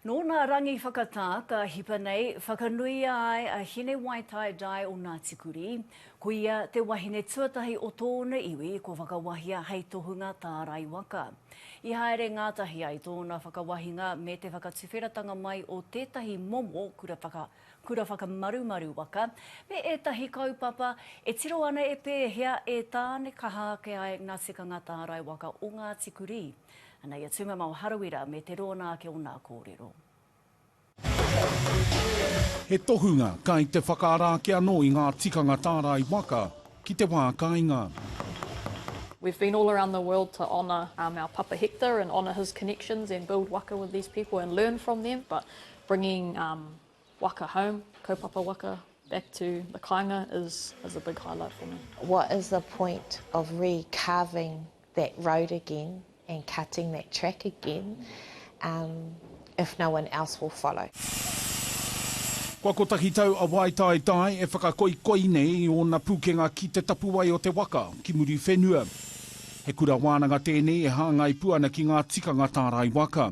Nō nā rangi whakatā ka hipa nei, whakanuia ai a Hinewaitaidai o Ngāti Kurī. Ko ia te wahine tuatahi o tōna iwi kua whakawahia hei tohunga tārai waka. I haere ngātahi ai tōna whakawahinga me te whakatuwheratanga mai o tētahi momo kura whaka, kura whakamarumaru waka, me ētahi kaupapa e tiro ana e pēhea e tānekaha ake ai ngā tikanga tārai waka o Ngāti Kurī. Ana i a Tūmama o Harawira me te rōna ake o nā kōrero. He tohunga kai te whakaara ake anō i ngā tikanga tārai waka ki te wā kainga. We've been all around the world to honour um our Papa Hector and honour his connections and build waka with these people and learn from them but bringing um Waka home, kaupapa waka, back to the kāinga is is a big highlight for me. What is the point of re carving that road again and cutting that track again um if no one else will follow. Kua kotahi tau a Waitaetae e whakakoikoi nei i ōna pūkenga ki te tapuwae o te waka, ki Muriwhenua. He kura wānanga tēnei e hāngai pū ana ki ngā tikanga tārai waka.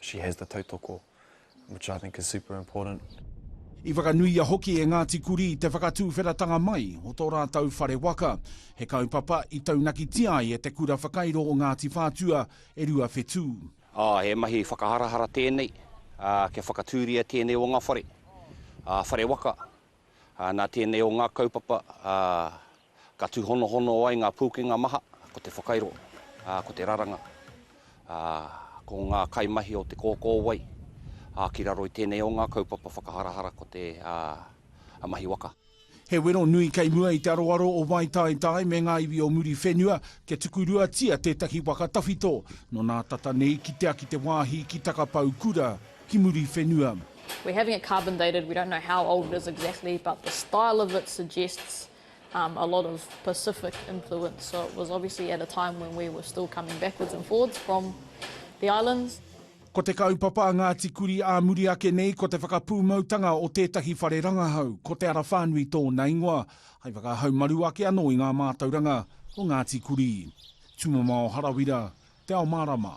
She has the tautoko, which I think is super important. I whakanuia hoki e Ngāti Kurī te whakatūwheratanga mai o tō rātou whare waka. He kaupapa i taunakitia ai e te Kura Whakairo o Ngāti Whātua e Rua Whetū. Aa, he mahi whakaharahara tēnei, aa, kia whakatūria tēnei o ngā whare, aa, whare waka, Nā tēnei o ngā kaupapa ka tūhonohono ai ngā pūkenga maha, ko te whakairo, ko te raranga, ko ngā kaimahi o te kōkōwai ki raro i tēnei o ngā kaupapa whakaharahara ko te mahi waka. He wero nui kei mua i te aroaro o Waitaetae me ngā iwi o Muriwhenua kia tukuruatia tētahi waka tawhito nō nā tata nei kitea ki te wāhi ki Takapaukura, ki muri whenua. We're having it carbon dated, we don't know how old it is exactly but the style of it suggests um a lot of Pacific influence so it was obviously at a time when we were still coming backwards and forwards from the islands. Ko te kaupapa a Ngāti Kuri ā muri ake nei ko te whakapūmautanga o tētahi whare rangahau, ko Te Ara Whānui tōna ingoa, hai whakahaumaru ake anō i ngā mātauranga o Ngāti Kuri. Tumamao Harawira, Te Ao Mārama.